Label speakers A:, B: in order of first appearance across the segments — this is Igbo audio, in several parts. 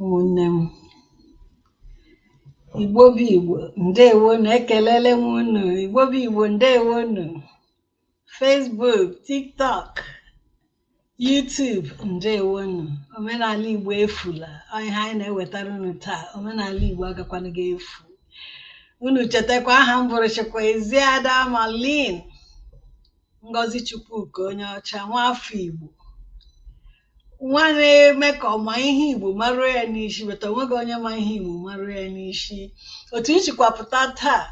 A: ụmụnne m igbo bụ igbo ndewonu ekelele m unu igbo bụ igbo ndewo unu Facebook tiktok YouTube ndewonu omenala Igbo efula ọ ihe anyị na-ewetara unu taa omenala Igbo agakwanaghị efu unu chetakwa aha m bụrụ chekwa Eziada Malin Ngozi Chukwuka onye ọcha nwaafọ Igbo nwa na-eme ka ọ ma ihe Igbo maruo ya n'isi but onweghị onye ma ihe Igbo maruo ya n'isi otu m sikwa pụta taa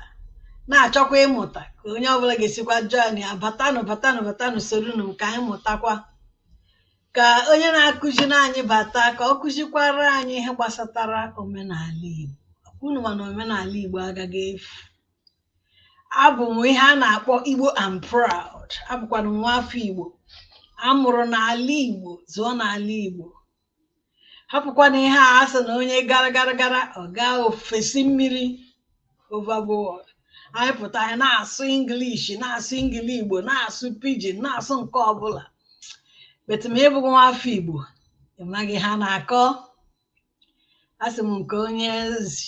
A: na-achọkwa ịmụta ka onye ọbụla ga-esikwa joinịa batanụ batanụ batanụ soronu m ka anyị mụtakwa ka onye na-akụziri anyị bata ka ọ kụzikwara anyị ihe gbasatara omenala Igbo unu ma na omenala Igbo agaghị efu abụ m ihe a na-akpọ Igbo and proud abụkwana m nwa afọ Igbo a mụrụ n'ala Igbo zụọ n'ala Igbo hapụkwana ihe a sị na onye gara gara gara ọ gaa ofesi mmiri overboard anyị pụta anyị na-asụ English na-asụ Engli Igbo na-asụ pidgin na-asụ nke ọbụla but ma ị bụghị nwa afọ Igbo ị maghị ihe a na-akọ asị m nke onye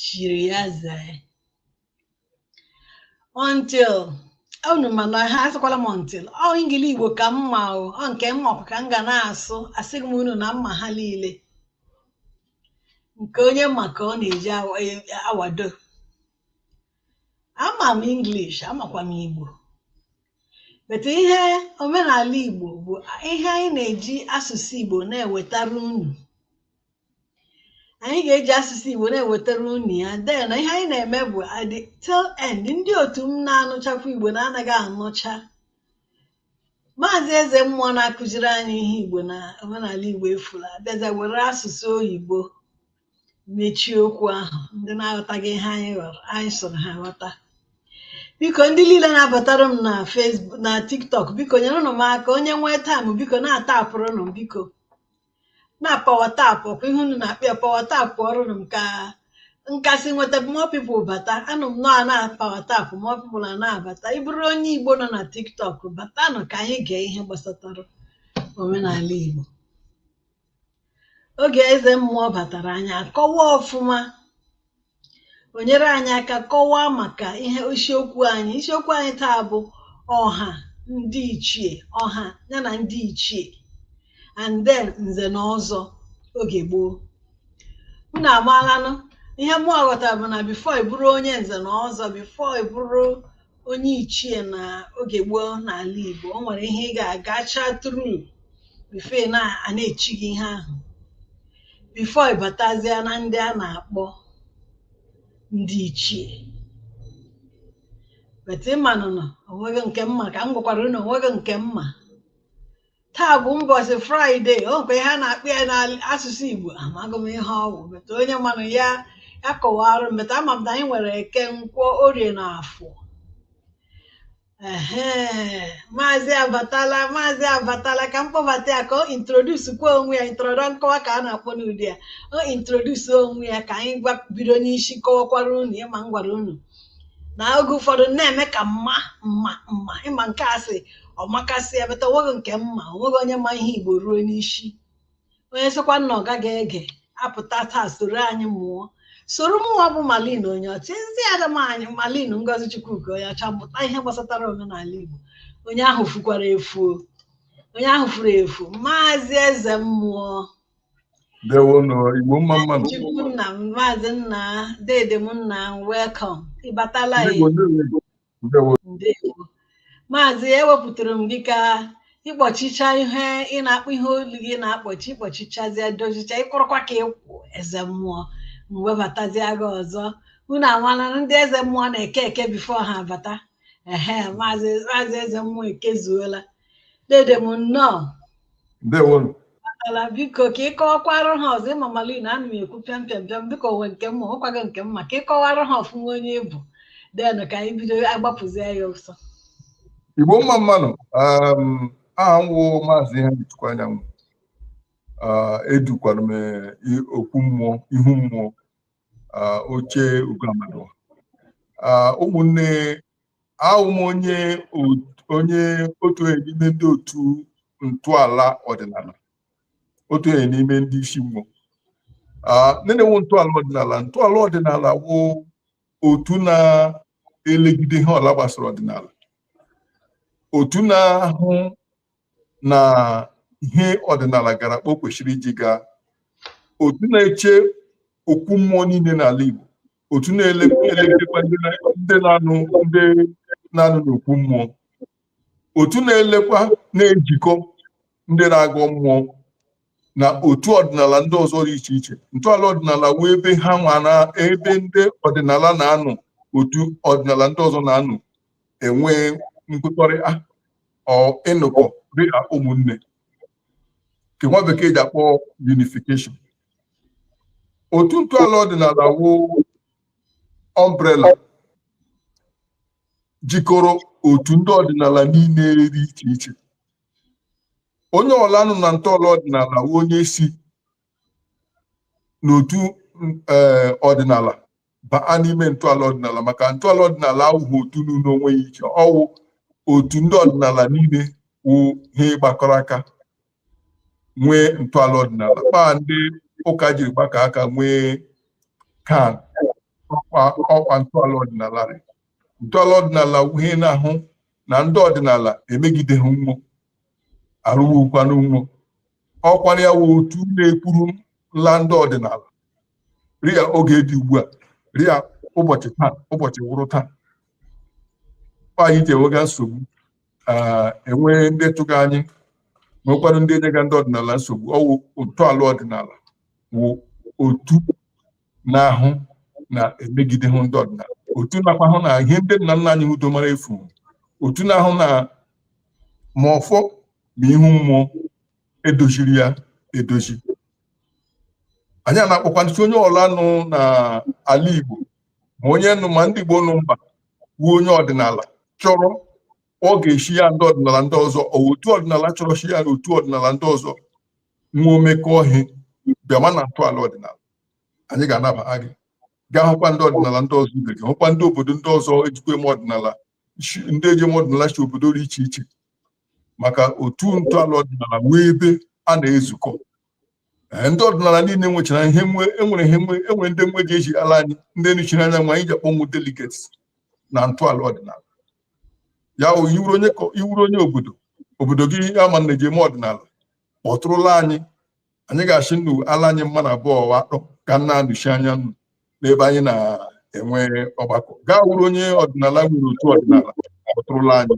A: chiri ya zee until unu ma na ha asịkwala m until ọ ngili igbo ka mma o ọ nke m ma ka m ga na-asụ asịghị m unu na m ma ha niile nke onye ma ka ọ na-eji awado e, ama m English amakwa m Igbo but ihe omenala Igbo bụ ihe anyị na-eji asụsụ Igbo na-ewetara unu anyị ga-eji asụsụ Igbo na-ewetara unu ya then ihe anyị na-eme bụ at the tail end ndị otu m na-anụchakwa Igbo na-anaghị anụcha maazị eze mmụọ na-akụziri anyị ihe Igbo na omenala Igbo efula abịazie were asụsụ oyibo mechie okwu ahụ ndị na-aghọtaghị ihe anyị kọrọ anyị sụrụ ha ghọta biko ndị niile na-abatara m na Facebook na TikTok biko nyerenụ m aka onye nwee time biko na-atapụrụnụ m biko na power tapụ ọ kwa ihe unu na-akpọ ya power tapụọrụnụ m ka m ka-esi nweta more people bata anụ m na a na power tapụ more people ana abata ị bụrụ onye igbo nọ na tiktok batanụ ka anyị gee ihe gbasatara omenala igbo oge eze mmụọ batara anyị akọwa ọfụma o nyere anyị aka kọwaa maka ihe isiokwu anyị isiokwu anyị taa bụ ọha ndị ichie ọha ya na ndị ichie and then nze na ọzọ oge gboo unu amaalanụ ihe mụwa ghọtara bụ na before ị bụrụ onye nze na ọzọ before ị bụrụ onye ichie na oge gboo n'ala Igbo o nwere ihe ị ga-agacha through before na a na-echi gị ihe ahụ before ị batazịa na ndị a na-akpọ ndị ichie but ị manụ na o nweghị nke m ma ka m gwakwara unu o nweghị nke m ma taa bụ ụbọchị Friday o nwekwa ihe a na-akpọ ya n'asụsụ igbo amaghị m ihe ọ wụ but onye manụ ya ya kọwara m but ama m na anyị nwere eke nkwọ orie na afọ ehe maazị abatala maazị abatala ka m kpọbata ya ka o introduce kwa onwe ya introdu- nkọwa ka a na-akpọ n'ụdị ya o introduce onwe ya ka anyị wa bido n'isi kọwakwara unu ị ma m gwara unu na oge ụfọdụ na-eme ka m ma m ma m ma ị ma nke a sị ọmakasịa but o nweghị nke m ma o nweghị onye ma ihe igbo ruo n'isi onye sịkwa na ọ gaghị ege apụta taa soro anyị mụọ soro mụnwa bụ Malin Onyeọcha ezi ada m anyị Malin Ngozichukwuka Onyeọcha mụta ihe gbasatara omenala igbo onye ahụ fukwara efuo onye ahụ furu efu maazị eze mmụọ
B: ndewonụ igbo mma mma nụ Chukwu nna m
A: maazị nna dede m nna m welcome ị batala ndị igbo ndewo igbo ndewo ndewo maazị ewepụtara m gị ka ị kpọchicha ihe ị na-akpọ ihe olu gị na-akpọchi ị kpọchichazie dozicha ị kwụrụkwa ka ị kwụ eze mmụọ m webatazia gị ọzọ unu amala na ndị eze mmụọ na-eke eke before ha abata ehe maazị maazị eze mmụọ ekezuola dede m nnọọ
B: ndewonụ
A: ala biko ka ị kọwakwara ha ọzọ ị ma Malin ana m ekwu pịam pịam pịam dịka o nwe nke m ma o nweghị nke m ma ka ị kọwara ha ọfụma onye ị bụ then ka anyị bido agbapụzie ya ọsọ
B: igbo mma mma nụ um, aha m wụ maazị Ihechukwu Anyanwụ Ah, edukwara m eh, i- okwu mmụọ ihu mmụọ ah, oche ugoamadụ Ah, ụmụnne awụ m onye onye otu onye n'ime ndị otu ntọala ọdịnala otu onye n'ime ndị isi mmụọ na-enwu ntọala ọdịnala ntọala ọdịnala wụ otu na-elegide ihe ọla gbasara ọdịnala otu na-ahụ na ihe ọdịnala gara kpa o kwesịrị iji gaa otu na-eche okwu mmụọ niile n'ala Igbo otu na-elekọta ndị na-anọ ndị na-anọ n'okwu mmụọ otu na-elekwa na-ejikọ ndị na-agọ mmụọ na otu ọdịnala ndị ọzọ dị iche iche ntọala ọdịnala wụ ebe ha nwa na ebe ndị ọdịnala na-anọ otu ọdịnala ndị ọzọ na-anọ enwe nkwekọrịta or ịnọkọ dị ka ụmụnne nke nwa bekee ji akpọ unification otu ntọala ọdịnala wụ umbrella jikọrọ otu ndị ọdịnala niile dị iche iche onye ọla nọ na ntọala ọdịnala wụ onye si n'otu ee ọdịnala baa n'ime ntọala ọdịnala maka ntọala ọdịnala awụghị otu nọrọ onwe ya iche ọ wụ otu ndị ọdịnala niile wụ ihe gbakọrọ aka nwee ntọala ọdịnala kpaa ndị ụka jiri gbakọ aka nwee CAN ọkwa ntọala ọdịnala rị ntọala ọdịnala wụ ihe na-ahụ na ndị ọdịnala emegideghị nwo arụwukwanụ nwo ọkwara ya wụ otu na-ekwuru nla ndị ọdịnala rịa oge dị ugbu a rịa ụbọchị taa ụbọchị wụrụ taa anyị ji enwega nsogbu e nwee ndị chụga anyị nwekwara ndị enyega ndị ọdịnala nsogbu ọ wụ ntọala ọdịnala wụ otu na-ahụ na e megidehụ ndị ọdịnala otu nakwa hụ na ihe ndị nna nna anyị udo mara efu otu na-ahụ na ma ọfọ ma ihu mmụọ edoziri ya edozi anyị a na-akpọkwanụ shị onye ọla nụ na ala Igbo ma onye nụ ma ndị Igbo nụ mba wụ onye ọdịnala chọrọ ọ ga-eshi ya ndị ọdịnala ndị ọzọ otu ọdịnala chọrọ shi ya na otu ọdịnala ndị ọzọ nwo emekọọ ihe bịama na ntọala ọdịnala anyị ga-anaba gị gaa hụkwa ndị ọdịnala ndị ọzọ ibe gị hụkwa ndị obodo ndị ọzọ ejikwa eme ọdịnala ndị eji eme ọdịnala shi obodo dị iche iche maka otu ntọala ọdịnala nwee ebe a na-ezukọ ndị ọdịnala niile nwechara ihe nwe enwere ihe nwe enwere ndị nwe ji eji ala anyị ndị nụchiri anya nwa anyị ji akpọnwụ delegates na ntọala ọdịnala ya wụ ị wụrụ onye kọ- ị wụrụ onye obodo obodo gị ama na eji eme ọdịnala kpọtụrụla anyị anyị ga-ashị nnu ala anyị mmanụ abụọ wa atọ ka na-anụchi anya nnu n'ebe anyị na-enwe ọgbakọ gị awụrụ onye ọdịnala nwere otu ọdịnala kpọtụrụla anyị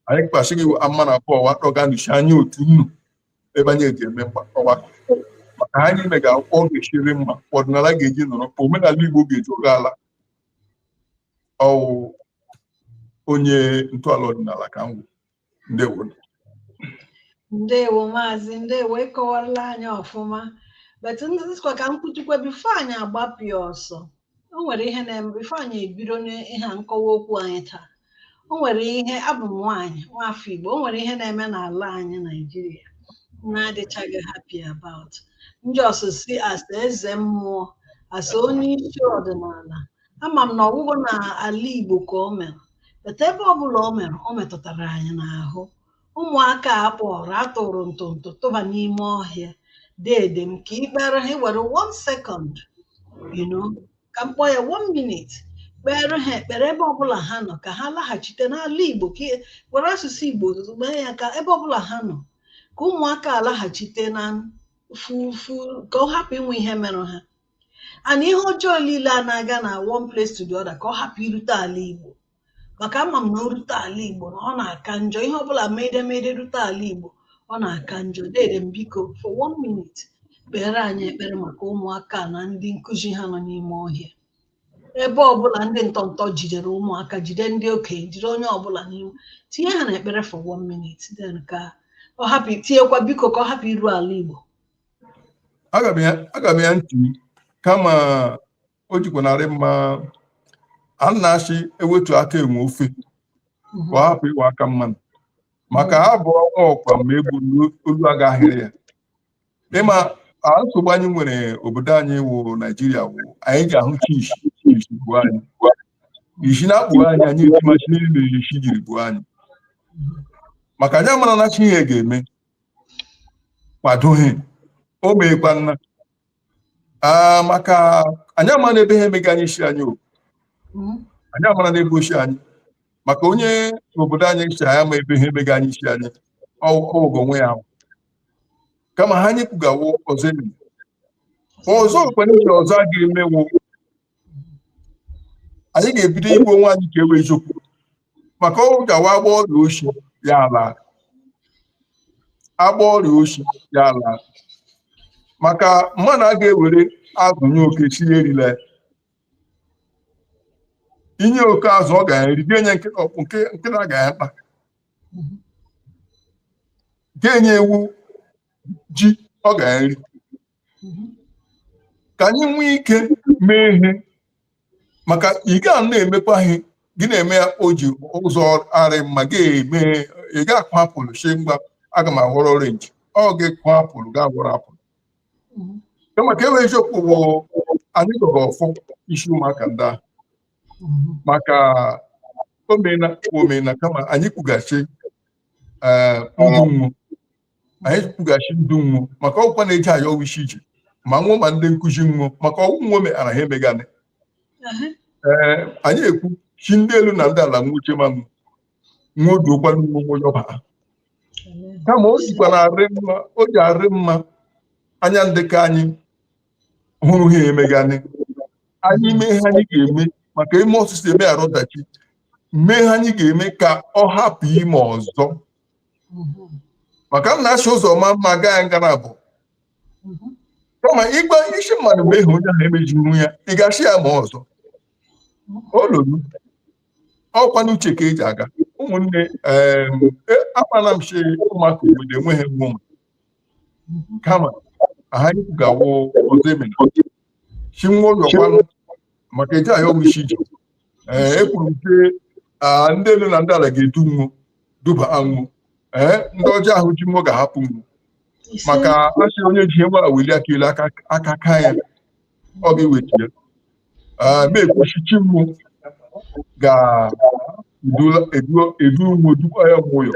B: anyị kpasị gị mmanụ abụọ wa atọ ga-anụchi anya otu nnu ebe anyị eji eme ọgbakọ maka anyị ime ga akwụkwọ ọ ga-eshi rị mma ọdịnala ga-eji nọrọ kpa omenala Igbo ga-eji oge ala ọ wụ onye ntọala ọdịnala ka m wụ ndewo
A: ndewo maazị ndewo ịkọwarala anyị ọfụma but ndịkwa ka m kwutukwa before anyị agbapụa ọsọ o nwere ihe na-eme before anyị ebido n'ihe a nkọwa okwu anyị taa o nwere ihe abụ m nwaanyị nwafọ Igbo o nwere ihe na-eme n'ala anyị Naijiria na-adịchaghị happy about ndị ọsụsị as a eze mmụọ as a onye isi ọdịnala ama m na ọ bụghị na ala Igbo ka o mere but ebe ọbụla o mere o metụtara anyị n'ahụ Ụmụaka a kpọrọ a tọrọ ntọntọ tụba n'ime ọhịa deede m ka ị kpere ha were one second you know ka m kpọọ ya one minute kpere ha ekpere ebe ọbụla ha nọ ka ha laghachite n'ala Igbo ka ị- were asụsụ Igbo mee ya ka ebe ọbụla ha nọ ka ụmụaka a laghachite na fufu ka ọ hapụ inwe ihe merụ ha and ihe ọjọọ niile a na-aga na one place to the other ka ọ hapụ irute ala Igbo maka ama m na o rute ala Igbo na ọ na-aka njọ ihe ọbụla mede mede rute ala Igbo ọ na-aka njọ dede m biko for one minute kpere anyị ekpere maka ụmụaka na ndị nkụzi ha nọ n'ime ọhịa ebe ọbụla ndị ntọntọ jidere ụmụaka jide ndị okenye jide onye ọbụla n'ime tinye ha n'ekpere for one minute then ka ọ hapụ tinyekwa biko ka ọ hapụ iru ala Igbo aga m ya
B: aga m ya ntị kama o jikwa narị mma a na-asị ewetu aka enwe ofe ka ọ hapụ ịwụ aka mmadụ maka ha bụ ọnwa ọkwa ma egbu olu agaghịrị ya ịma nsogbu anyị nwere obodo anyị wụ naijiria wụ anyị ji ahụ chi isi isi gbuo anyị isi na-akpụ anyị anyị etima sị na isi jiri gbuo anyị maka anyị amara na sị ihe ga-eme kwadoghị o meekwa nna Ah, maka anyị ama na ebe ihe emeghị anyị isi anyị o Mm. anyị amara n'ebe ochie anyị maka onye obodo anyị si anyị ama ebe ihe emeghị anyị isi anyị ọgwụgwọ onwe ya ahụ. kama ha anyị kwugawo ọzọ enyi ọzọ kwere nke ọzọ a ga-emewo anyị ga-ebido ịgwa onwe anyị nke wụ eziokwu maka ọnwụ gawa agba ọrịa oshi ya ala agba ọrịa oshi ya ala maka mmadụ a ga-ewere azụ nye oke sị ya erile i nye oke azụ ọ ga-eri ga-enye nkịta ọkpụkpụ nkịta ga-akpa ga-enye ewu ji ọ ga-eri ka anyị nwee ike mee ihe maka ị ga na-emekwa ihe gị na-eme ya o ji ụzọ arị mma gị eme ị ga-akụ apụlụ shị mba aga m aghọrọ orenji ọ gị kụọ apụlụ ga-aghọrọ apụlụ kama nke wụ eziokwu bụ anyị gọrọ ọfọ isi ụmụaka ndị ahụ maka omena omena kama anyị kwughachi ee ndụ nwo anyị kwughachi ndụ nwo maka ọ wụkwa na eje ayọ wụ isi ije ma nwo ma ndị nkụzi nwo maka ọ wụ nwo meghara ha emeghana ee anyị ekwu sị ndị elu na ndị ala nwuche ma nwo nwa odu ụkwanụ nwa onwe ọba ha kama o jikwara arị mma o ji arị mma anya ndị ka anyị hụrụ ha emeganị anyị mee ihe anyị ga-eme maka e mee ọsịsọ emeghara ọdachi mee ihe anyị ga-eme ka ọ hapụ ime ọzọ maka m na-achị ụzọ ma mma gaa ya ngara bụ kama ịgba isi mmadụ mgbe ịhụ onye ahụ emeji ihu ya ị ga-achị ya ma ọzọ olulu ọkwa n'uche ka eji aga ụmụnne akpana m chi ụmụaka obodo enweghị nwa ụmụ kama aha ikwu ga-awụ ọzọ emena chi nwayọ kwanụ maka eji ahịa ọgwụ isi ije ee ekwuru m sị ndị elu na ndị ala ga-edu nwu duba ha nwu ee ndị ọjọọ ahụ ji nwu ga-ahapụ nwu maka asị onye ji ihe nwa weli aka elu aka ka ya ọ ga-eweta ya m ekwu sị chi mụ ga-edu nwu dukwa ya mmụọ ya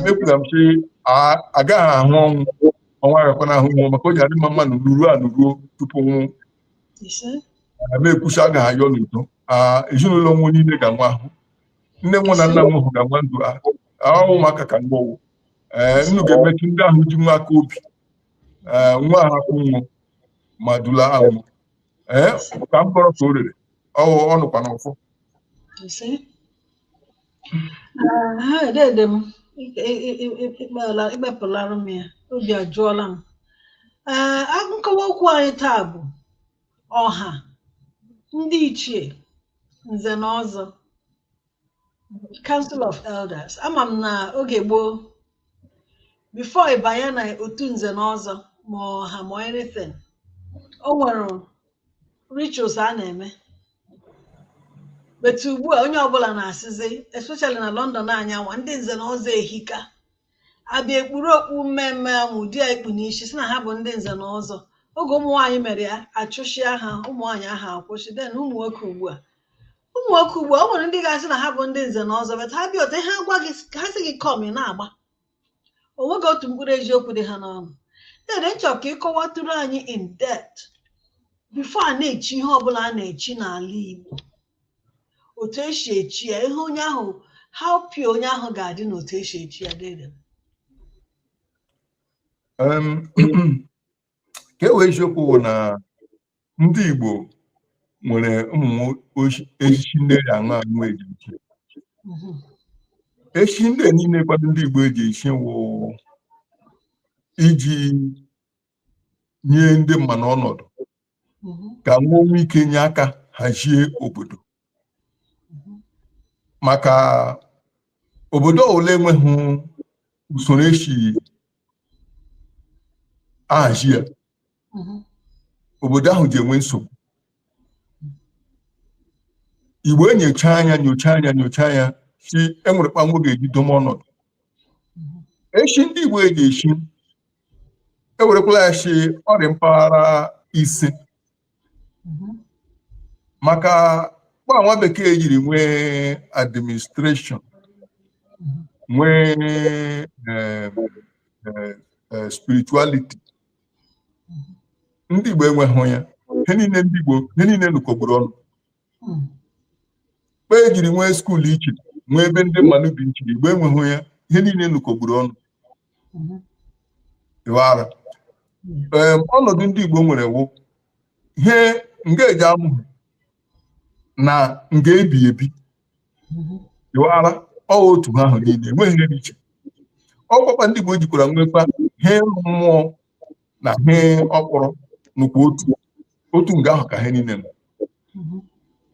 B: mekwula m sị agaghị ahụ ọnwụ ọnwụ agakwana ahụ nwu maka o ji adị mma mmadụ nọruo anọruo tupu nwụ ma ekwucha agaghị ayọ n'udo ezinụlọ nwu niile ga-anwa ahụ nne nwu na nna nwu ga-anwa ndụ ahụ ụmụaka ka nwa ọwụ ee nnu ga-emetụ ndị ahụ ji nwu aka obi ee nwa ahapụ nwu ma dula ha nwụ ee ka m gọrọ ka o rere ọ nọkwa n'ọfọ Ah,
A: dede m ị- ị- ị- ị- ị- ịkpala- ịkpepụlara m ya obi ajụọla m Ee, a- nkọwa okwu anyị taa bụ ọha ndị ichie nze na ọzọ council of elders ama m na oge gboo before ịbanye na otu nze na ọzọ ma ọha ma anything o nwere rituals a na-eme but ugbu a onye ọbụla na-asịzi especially na London anyị nwa ndị nze na ọzọ ehika abịa ekpuru okpu mme mme ahụ ụdị a i kpu n'isi sị na ha bụ ndị nze na ọzọ oge ụmụ nwaanyị mere ya achụchịa ha ụmụ nwaanyị ahụ akwụsị then ụmụ nwoke ugbu a ụmụ nwoke ugbu a o nwere ndị ga-asị na ha bụ ndị nze na ọzọ but ha bịa otu ha gwa gị ha sị gị come ị na-agba o nweghị otu mkpụrụ eziokwu dị ha n'ọnụ dede m chọ ka ị kọwatụrụ anyị in depth before a na-echi ihe ọbụla a na-echi n'ala Igbo otu esi echi ya ihe onye ahụ how pure onye ahụ ga-adị na otu esi echi ya dede Um,
B: nke wụ eziokwu bụ na ndị Igbo nwere ụmụ echichi ndị eji aṅụ aṅụ eji echi echichi ndị niile kwado ndị Igbo eji echi wụ iji nye ndị mmadụ ọnọdụ ka wo nwee ike nye aka hazie obodo maka obodo ọwụla enweghị usoro esi ahazi ya obodo ahụ ji enwe nsogbu igbo enyochaa anya nyocha anya nyocha anya sị e nwere kpa nwo ga-eji dowe ọnọdụ echi ndị igbo eji echi ewerekwala ya sị ọ rị mpaghara ise mhm. maka kpa nwa bekee jiri nwee administration mhm. nwee eh, eh, eh, spirituality mhm. ndị Igbo enweghị ya ihe niile ndị Igbo ihe niile nukọgburu ọnụ kpa e jiri nwee skuul iche nwee ebe ndị mmadụ bi iche Igbo enweghị ya ihe niile nukọgburu ọnụ ị wara ee ọnọdụ ndị Igbo nwere wụ ihe nga eji amụ ihe na nga ebi ebi ị wara ọ otu ha ahụ niile enweghị ihe dị iche ọ kwa kpa ndị Igbo jikwara nwekwa ihe mmụọ na ihe ọkpọrọ nọkwa otu otu nga ahụ ka ha niile nọ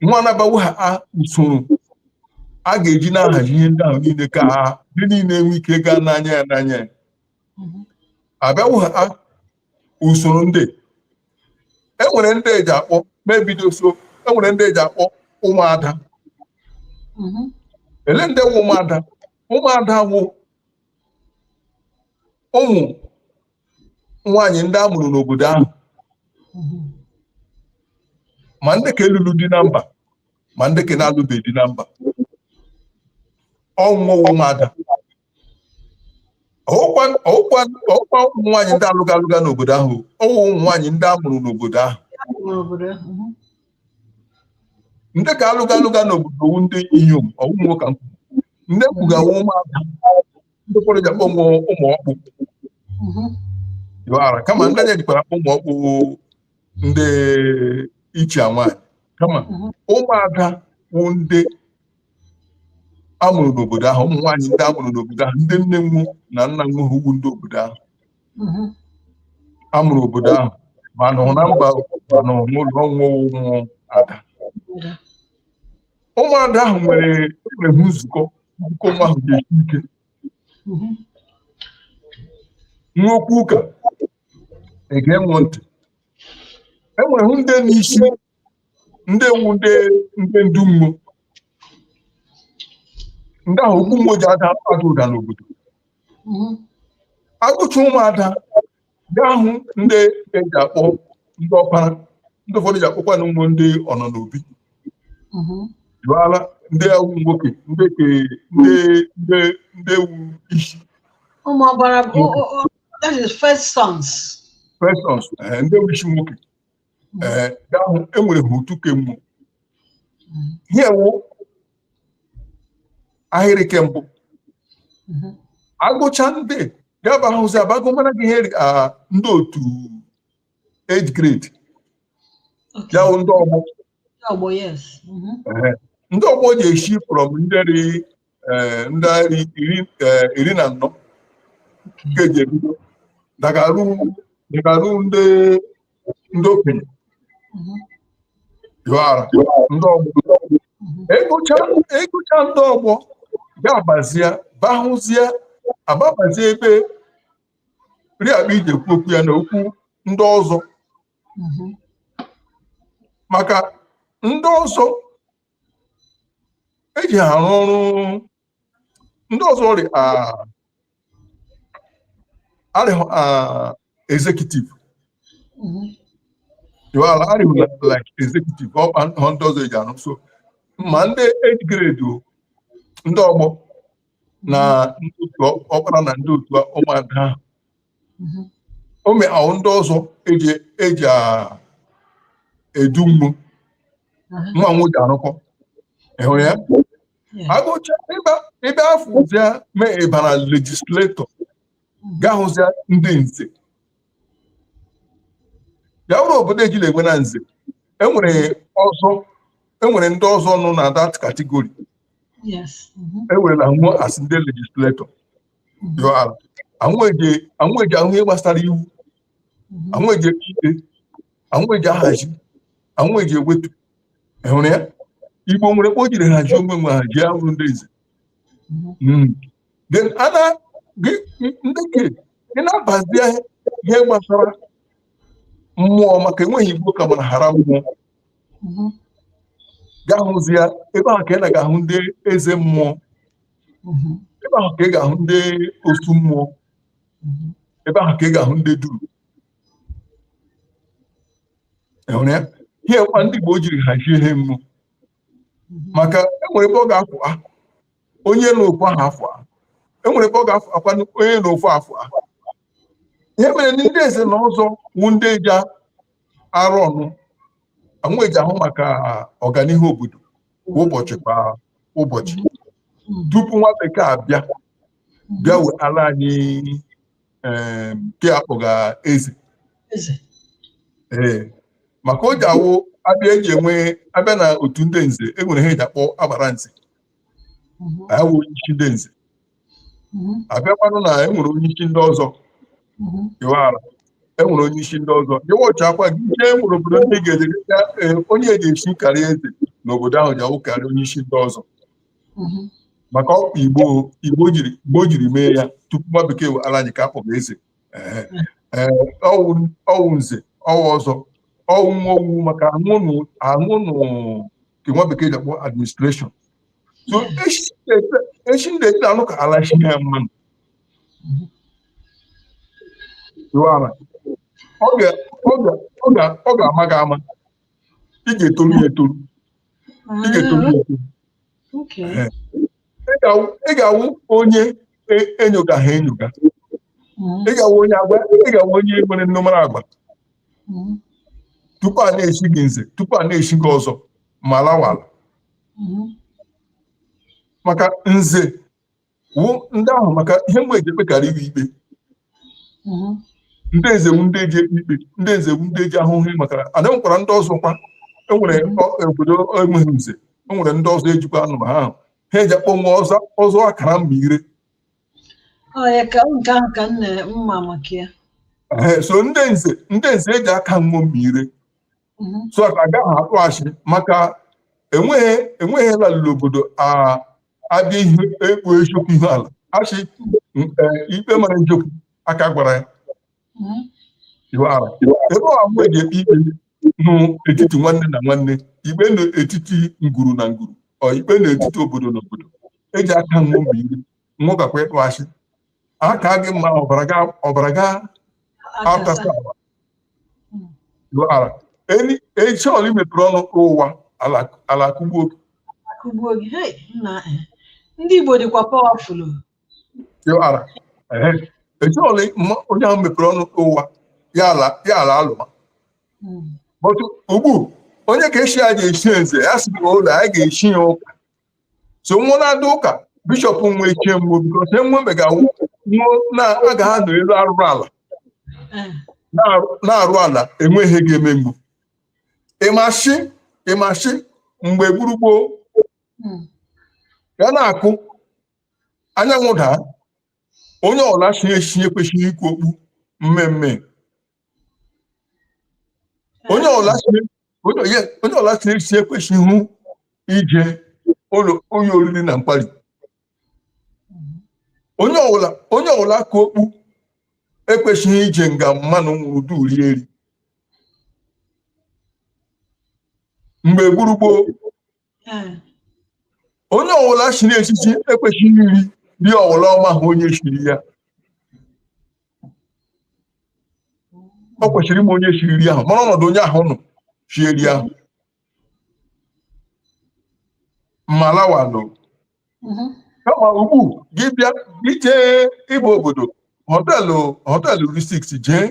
B: nwo abịawa haa usoro a ga-eji na-ahazi ihe ndị ahụ niile ka ha ndị niile nwee ike gaa n'anya ya n'anya ya abịawa haa usoro ndị e nwere ndị eji akpọ mebido so e nwere ndị eji akpọ ụmụada ele ndị wụ ụmụada ụmụada wụ ụmụ nwaanyị ndị a mụrụ n'obodo ahụ ma ndị ka alụlụ di na mba ma ndị ka na-alụbeghị di na mba ọ nwo wụ ụmụada ọkwa ụmụ nwaanyị ndị alụga alụga n'obodo ahụ ọ wụ ụmụ nwaanyị ndị a mụrụ n'obodo ahụ ndị ka alụga alụga n'obodo wụ ndị inyom ọ wụ nwo ka ndị kwugawa ụmụada ndị ụfọdụ ji akpọ nwo ụmụ ọkpụ ị wara kama nga anyị jikwara akpọ ụmụ ọkpụ ndị ichie nwaanyị kama ụmụada wụ ndị amụrụ n'obodo ahụ ụmụ nwaanyị ndị amụrụ n'obodo ahụ ndị nne nwo na nna nwo wụ ndị obodo ahụ amụrụ obodo ahụ ma nọ na mba ma nọ n'ụlọ ọ wụ ụmụ ada ụmụada ahụ nwere nwere nzukọ nke onwe ahụ ga-esi ike nwo kwuo ụka e gee nwo ntị e nwere ndị n'isi ndị wụ ndị ndị ndu nwo ndị ahụ okwu nwo ji ada ada ụda n'obodo agụcha ụmụada ga-ahụ ndị eji akpọ ndị ọkpara ndị ụfọdụ ji akpọkwanụ nwụ ndị ọnọ n'obi jụọla ndị wụ nwoke ndị ke ndị ndị ndị wụ isi ụmụ ọgbara bụ that
A: is first sons first sons
B: eh, ndị wụ isi nwoke ee ndị ahụ enwere ha otu ke nwụ ihe wụ ahịrị ke mbụ agụcha ndị gaba ahụzi abago mara gị ihe ri- ah, ndị otu age grade Okay. ya wụ ndị ọgbọ Ndị ọgbọ, yes. Mhm. Ehe. ndị ọgbọ ji esi from ndị dị eh, ndị afọ iri eh, iri na anọ nke ji ebido dagaru dagaru ndị ndị okenye yọara ndị ọgbọ agụcha agụcha ndị ọgbọ ga-abazie bahụzie ababazie ebe rị akpa iji ekwu okwu ya na okwu ndị ọzọ maka ndị ọzọ eji ha arụ ọrụ ndị ọzọ ọ rị arịhụ executive ala arịhụ like executive kpa ahụ ndị ọzọ eji arụ so ma ndị age grade ndị ọgbọ na ndị otu ọkpara na ndị otu ụmụada mhm. o mee ahụ ndị ọzọ eji eji edu nwụ nwa nwụ ji arụkọ ịhụrụ ya agụcha ebe afụzia mee ịbara legislator mhm. ga-ahụzia ndị nze ya bụrụ obodo ejila enwe na nze enwere ọzọ enwere ndị ọzọ nọ na that category ewerela nwụ as ndị legislator anwụ eji ahụ ihe gbasara iwu mhm. anwụ eji ikpe anwụ eji ahazi anwụ eji ewetu ịhụrụ ya igbo nwere kpa o jiri hazie onwe nwe haji ahụ ndị eze mhm. hmm. ndị ke ị na-abazi ihe gbasara mmụọ maka enweghị igbo ka mara hara mmụọ mhm. ga-ahụzia ebe ahụ ka ị na ga-ahụ ndị eze mmụọ mhm. ebe ahụ ka ị ga-ahụ ndị osu mmụọ mhm. ebe ahụ ka ị ga-ahụ ndị duru ịhụrụ ya ihe kwa ndị Igbo jiri hazie ihe mmụọ mhm. maka enwere ebe ọ ga-afụ a onye na okwu ahụ afọ a enwere ebe ọ ga-afụ akwa onye na okwu afọ a ihe mere ndị eze na ọzọ wụ ndị eji arụ ọnụ anwụ eji ahụ maka ọganihu obodo kwa ụbọchị kwa ụbọchị tupu nwa bekee abịa bịa wee ala anyị em, nke a kpọga eze Eze. ee maka o ji awụ abịa eji enwe abịa na otu ndị nze e nwere ihe eji akpọ agbara nze Mhm. awụ isi ndị nze mm-hmm. abịakwanụ na enwere onye isi ndị ọzọ mm-hmm. iwara enwere onye isi ndị ọzọ ịwọchị akwa gị ihe enwere obodo ndị ga-eji e, onye eji echi karịa eze n'obodo ahụ ji awụ karịa onye isi ndị ọzọ mm-hmm. maka kpa igbo igbo jiri mee ya tupu nwa bekee ala anyị ka akpọga eze ọwụ nze ọwụ ọzọ ọwụ nwa owu maka anwụnụ nke nwa bekee ji akpọ administration so echi ndị ete anụ ka ala chi ya mmanụ ọ ga-ama gị ama ị ga-etoru ya etoru ị ga-etoru ya etoru ị ga-awụ onye enyoga ha enyoga ị ga-awụ onye agba ị ga-awụ onye nwere nnụmara agba tupu a na-echi gị nze tupu a na-echi gị ọzọ ma lawala maka nze wụ ndị ahụ maka ihe mgbe eji ekpekarịrị ikpe mhm. ndị nze wụ ndị eji ekpe ikpe ndị nze wụ ndị eji ahụhụ maka ala and enwekwara ndị ọzọ kwa enwere mhm. obodo enweghị nze enwere ndị ọzọ ejikwa anụma aha ahụ ihe eji akpọ nwọ ọzọ ọzọ akara mma ire so ndị nze ndị nze eji aka nwọ mma ire mhm. so ka agaghị ekpu ashị maka enweghị enweghị lalụrụ obodo abịa ihe ekpu eziokwu ihe ala ashị e, ikpe mara Njoku aka gwara ya mhm. ebe ọha mgbe ji ekpe ikpe n'etiti nwanne na nwanne ikpe n'etiti ngwuru na ngwuru ọ ikpe n'etiti obodo na obodo eji aka nwọ mma ire nwọ gakwa ikpu ashị aka gị mma ọbara gị ọbara gị atasa ala echi ọla imepere ọnụ ụgha ala akụgbuo gị akụgbuo gị hei nna eh.
A: ndị Igbo dịkwa pawafụl
B: ara echi ọla onye ahụ mepere ọnụ ụgha ya ala alụma hmm. but ugbu onye ka echi ya ga-echi eze ya sị ọlọ anyị ga-echi ya ụka so nwọ na-aga ụka bishọp nwe chie nwọ bikọs enwebe ga-awụ nwọ na a ga ha nọ elu arụrụ ala na-arụ- na-arụ ala enweghị ihe ga-eme nwọ ị ma sị ị ma sị mgbe gburugburu ya na-akụ anyanwụ daa onye ọla chi echi kwesịrị ikpu okpu mmee mmee onye ọla si- onye onye- onye ọwụla chi echi ekwesịghị ije ụlọ onye oriri na nkwari onye ọla onye ọwụla ka okpu ekwesịghị ije nga mmanụ nwụrụ du rie eri mgbe gburugboo hmm. onye ọwụla chiri echichi ekwesịghị iri ri ọwụla ọ maha onye siri ya ọ kwesịrị ịma onye siri ri ahụ mara ọnọdụ onye ahụ nọ sie ri ahụ malawa nọ mm-hmm. kama ugbu gị bịa gị jee ịba obodo họtelụ họtelụ rị six jee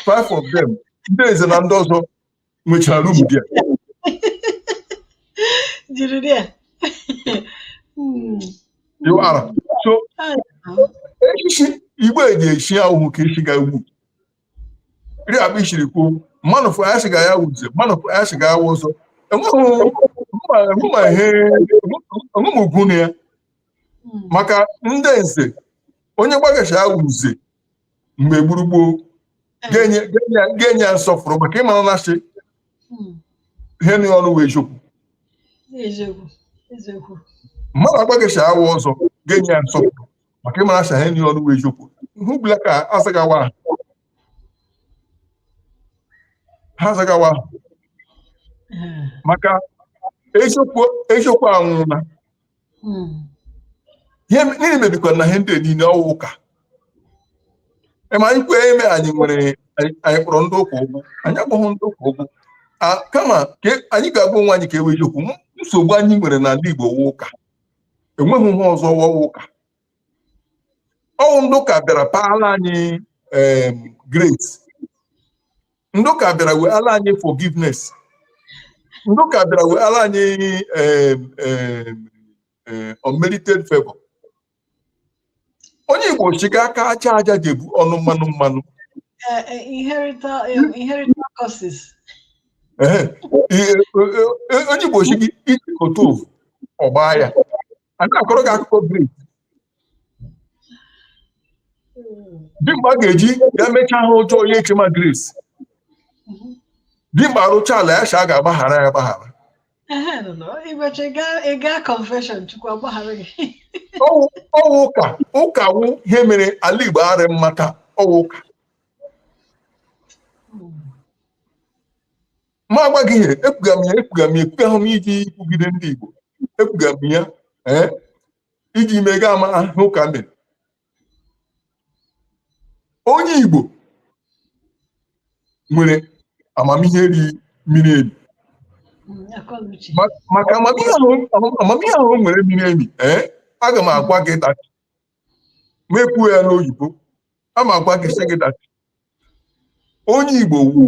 B: five of them ndị eze na ndị ọzọ nwechara rum bịa jiri dị ya ịwara so echichi igbo eji echi awụhụ ka e chiga ugbu rị akpa i siri kwuo mmanụ fụ ya sị ga ya wụ nze mmanụ fụ ya sị ga ya wụ ọzọ enweghị ihe enweghị ugwu na ya maka ndị nze onye gwa gị sị ya wụ nze mgbe gburugboo ga-enye ya nsọfụrụ maka ịmara na asị hmm. ihe nọ ya ọnụ wụ eziokwu mmadụ agwa gị sị ya wụ ọzọ ga-enye ya nsọpụrụ maka ịmara asị ihe nọ ya ọnụ wụ eziokwu ihe ọbụla ka azagawa ahụ ha zagawa maka eziokwu anwụla ihe mebikwara na ihe ndị niile ọwụ ụka ma anyị kwee eme anyị nwere anyị kpọrọ ndị ụka ụgwụ anyị akpọghị ndị ụka ụgwụ kama ka e, anyị ga-agwa onwe anyị nke wụ eziokwu nsogbu anyị nwere n'ala Igbo wụ ụka enweghị ihe ọzọ wụwa ụka ọwụ ndị ụka bịara paala anyị grace ndị ụka bịara weala anyị forgiveness ndị ụka bịara weala anyị em, em, em, unmerited favor onye igbo sị gị aka aja aja jebu ọnụ mmanụ mmanụ Eh, eh,
A: inherited eh, inherited curses Ehe. Ihe-
B: o- o- onye igbo sị gị isi kote evu ọ gbaa ya a na-akọrọ gị akụkọ grace dimkpa ga-eji ya mechaa ihe ọjọọ ya echema grace dimkpa rụcha ala ya sha a ga-agbaghara ya agbaghara Ehe, nọ, nọ. Ibechi, ị gaa-
A: ị gaa confession, Chukwu agbaghara gị. ọwụ ọwụ ụka
B: ụka wụ ihe mere ala igbo arị mma taa ọwụ ụka ma agwa gị ihe ekwuga m ya ekwuga m ya ekwuga hụ m iji ikwugide ndị igbo ekwuga m ya ee iji mega ama ahụ ụka mere onye Igbo nwere amamihe ri miri emi maka amamihe ahụ o nwere miri emi ee eh, aga m agwa gị that m ekwuo ya n'oyibo a ma agwa gị sị gị that onye Igbo wụ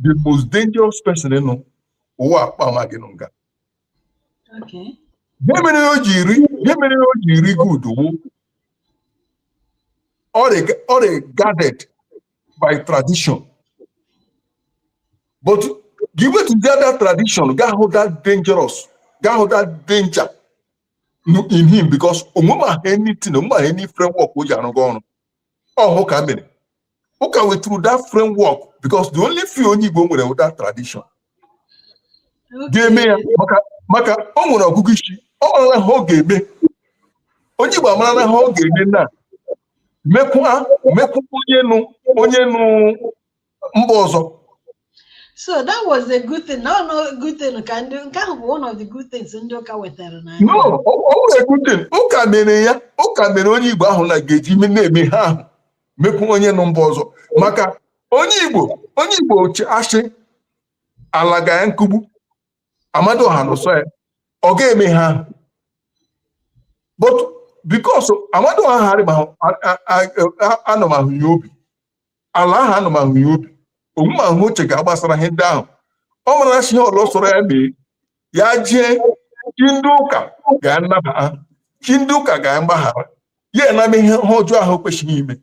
B: the most dangerous person nọ ụwa akpa ma gị nụ nga Okay. Ihe mere o ji ri ihe mere o ji ri good wụ ọ- ọ ri guarded by tradition but gị wetụzie that tradition ga-ahụ that dangerous ga-ahụ that danger n- in him because o nwemaha anything o nwemaha any framework o ji arụga ọrụ ọ ha ụka mere ụka weturu that framework because the only fear onye Igbo nwere wụ that tradition ga-eme ya maka ọ nwere ọgụgụ isi ọ marala ha ọ ga-eme onye Igbo amarala ha ọ ga-eme na mekwa mekwu onye nọ onye nọ mba ọzọ so that was a good thing no no good thing
A: ka ndị nke ahụ bụ one of the good things ndị ụka wetara na no ọ bụrụ
B: a good thing ụka mere ya ụka mere onye Igbo ahụ na ga-eji na-eme ha ahụ mekwu onye nọ mba ọzọ maka onye igbo onye igbo asị ala ga ya nkugbu Amadiọha na ụsọ ya ọ ga-eme ha but because Amadiọha ahụ anọmahụ ya obi ala ahụ anọmahụ ya obi o nwemahụ ha o chega gbasara ihe ndị ahụ ọ mara na sị ihe ọla sọrọ ya mee ya jee chi ndị ụka ga-anaba ya chi ndị ụka ga-agbaghara ya a na-eme ha ọjọọ ahụ kwesịrị ime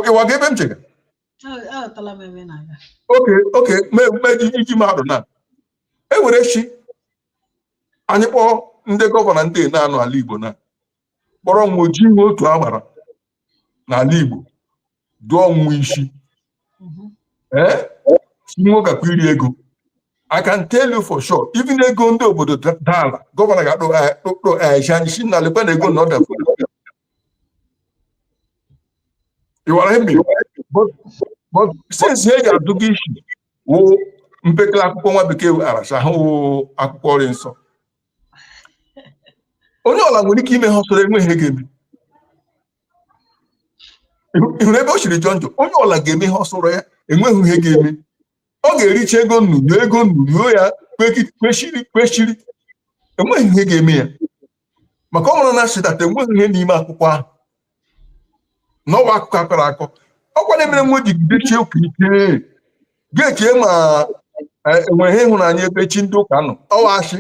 B: ịwaga ebe m chega okay okay meji iji mmadụ na e were sị anyị kpọọ ndị gọvanọ ndị na-anọ ala Igbo na kpọrọ nwo jee otu agbara n'ala Igbo dụọ nwo isi mhm. ee si nwoke akwa iri ego I can tell you for sure even ego ndị obodo daa ala gọvanọ ga-akpọ anyị sị na lekwa na ego na ọ dafere ịwara emi but since ihe e ji adụga isi wụ mpekele akwụkwọ nwa bekee wetara sị ha wụ akwụkwọ rị nsọ onye ọla nwere ike ime ha sọrọ ya enweghị ihe ga-eme ịhụrụ ebe o siri jọ njọ onye ọla ga-eme ihe ọ sọrọ ya enweghị ihe ga-eme ọ ga-ericha ego unu nyụọ ego unu nyụọ ya kwechiri kwechiri enweghị ihe ga-eme ya maka ọ mụrụ na sị that enweghị ihe n'ime akwụkwọ ahụ na ọ wụ akụkọ akọrọ akọ ọkwa na-emere nwo jigidechie ụka ike ga-eche ma eh, enwe ihe ịhụnanya ebe chi ndị ụka nọ ọ wụ asị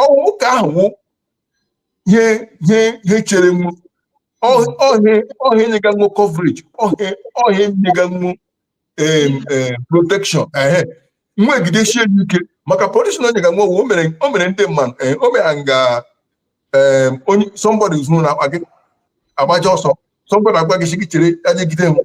B: ọ wụ ụka ahụ wụ ihe ihe ihe chere nwo ọ ihe ọ ihe nyega nwo coverage ọ ihe ọ ihe nyega nwo protection ehe nwo gidesie ya ike maka protection o nyega nwo o mere o mere ndị mmadụ eh, o mere nga em, onye somebody zuru na akpa gị agbaga ọsọ somebody agwa gị sị gị chere ya jegide m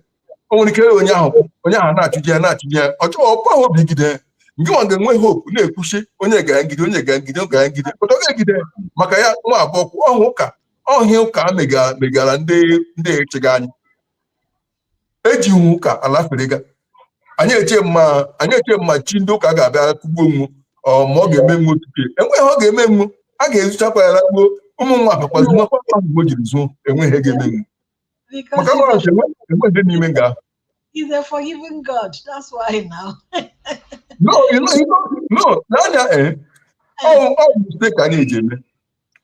B: o nwere ike onye ahụ onye ahụ na-achụje ya na-achụje ya ọ chọọ ọkwa ahụ obi gide nke nwa ga-enwe hope na-ekwuchi onye ga-agide onye ga-agide onye ga-agide pụta ọ ga-egide maka ya nwa abụọ kwụ ọhụ ụka ọ ihe ụka a mega- megara ndị ndị echega anyị eji nwo ụka alaferega anyị eche ma anyị eche ma chi ndị ụka ga-abịa kugbuo nwo ma ọ ga-eme nwo otu a enweghị ihe ọ ga-eme nwo a ga-ezuchakwa ya lakpuo ụmụ nwa bakwazi nwakwa ahụ jiri zuo enweghị ihe ga-eme nwo maka mara nche enweghị n'ime
A: nga ahụ He's a forgiving God. That's why
B: now. no, you know, you know, no, n'anya eh, ọ bụ mistake anyị eji eme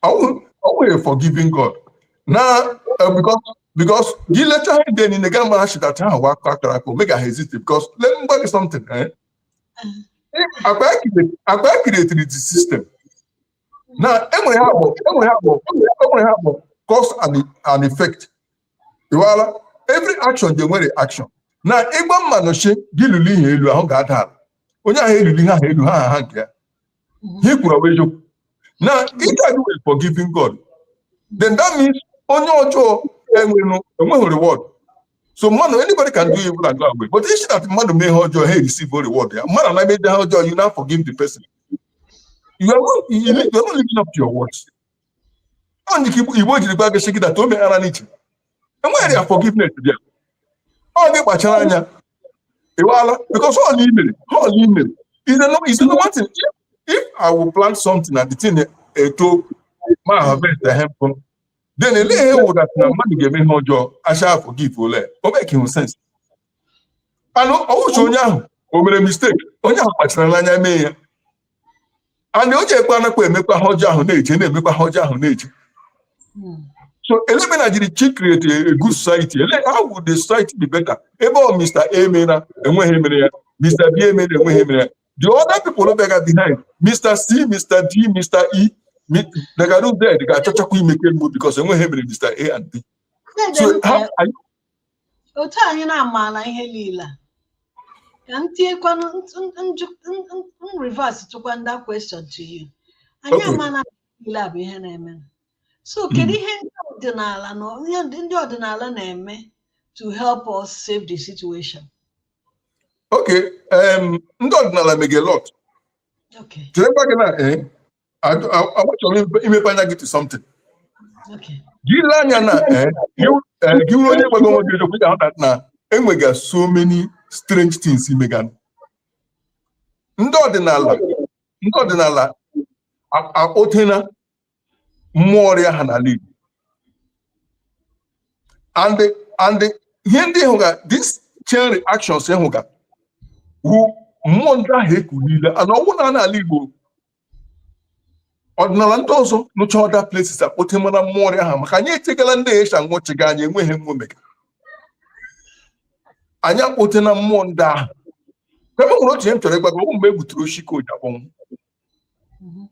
B: ọ wụghị forgiving God na eh, because because gị lecha ihe ndị niile ga-amara sị that ọ wụ akụkọ akọrọ akọ o megaghị exist because let me tell you something eh? akpa creatiri the system na enwere ihe bụ enwere ihe bụ enwere ihe bụ cause and, and effect iwala every action dị nwere reaction na ị gwa mmadụ sị gị luli ihe elu ahụ ga-ada ala onye ahụ eluli ihe elu ha ha nke ya ihe i kwuru a wụ eziokwu na ike adị were forgiving God then that means onye ọjọọ enweghị reward so mmadụ anybody can do evil and go away but ị sị that mmadụ mee ihe ọjọọ ha receive reward ya mmadụ na-emede ihe ọjọọ you now forgive the person you are not, you are not living up to your words ọ dị ka ebe o jiri gwa gị sị gị that o meghara n'iche enweghị ya forgiveness bịa ọ gị kpachara anya ịwala because all i mere all i mere is no is no one thing if, if i will plant something and the thing eto ma harvest the hemp then ele ihe wụ that na mmadụ ga-eme ihe ọjọọ a sị a forgive ole o makeghị sense anụ ọ wụcha onye ahụ o mere mistake onye ahụ kpachara n'anya mee ya ana o ji ekwe anakwa emekwa ihe ọjọọ ahụ na-eje na-emekwa ihe ọjọọ ahụ na-eje so elemena jiri chi create a good society ele how would the society be better ebe ọ mr a emena enweghị ihe mere ya mr b emena enweghị ihe mere ya the other people nọ bega behind mr c mr d mr e mi- dịga ruo z ga-achọchakwa ime nke nwo because enweghị ihe mere mr a and b so how are you otu
A: anyị na-amaala ihe niile a ka m tinyekwanụ in reverse tụkwa that question to you anyị Okay. amaala na ihe niile a bụ ihe na-eme so kedu ihe ndị ọdịnala na ihe ndị ndị ọdịnala na-eme to help us save the
B: situation okay em, ndị ọdịnala mege a lot okay
A: cherekwa gị na eh,
B: achọrọ imepe anya gị to
A: something gị lee
B: anya na eh, eh, gị wụrụ onye gwaga onwe gị eziokwu ị ga-ahụta na enwega so many strange things emega ndị ọdịnala ndị ọdịnala akpọtena mmụọ ọrịa ha n'ala Igbo and and ihe ndị ị hụga this chain reactions ị hụga wu mmụọ ndị ahụ ekuliela and ọ wụhụ naanị ala Igbo ọdịnala ndị ọzọ nọcha other places akpọtemana mmụọ ọrịa ha maka anyị etegala ndị Asia nwụchịga anyị enweghị ihe nwo mega anyị akpọtena mmụọ ndị ahụ e nwere otu ihe m chọrọ ịgwa gị mgbe e gbuturu oshi ka o ji akpọnwụ mhm.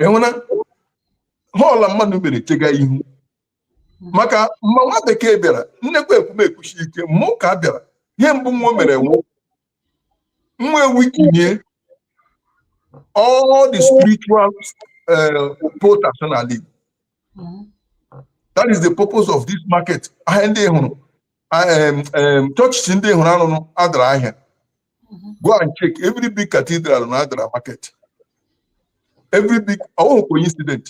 B: enwena họọla mmadụ mere chega ihu maka mma nwa bekee bịara m na-ekwu ekwu m ekwusi ike mma ụka bịara ihe mbụ nwo mere wụ nwo eweakenie all the spiritual uh, portals n'ala Igbo that is the purpose of this market ahịa ndị ị hụrụ churches ndị ị hụrụ a rụrụ adara ahịa go and check every big cathedral na adara market every big ọwụhụ coincidence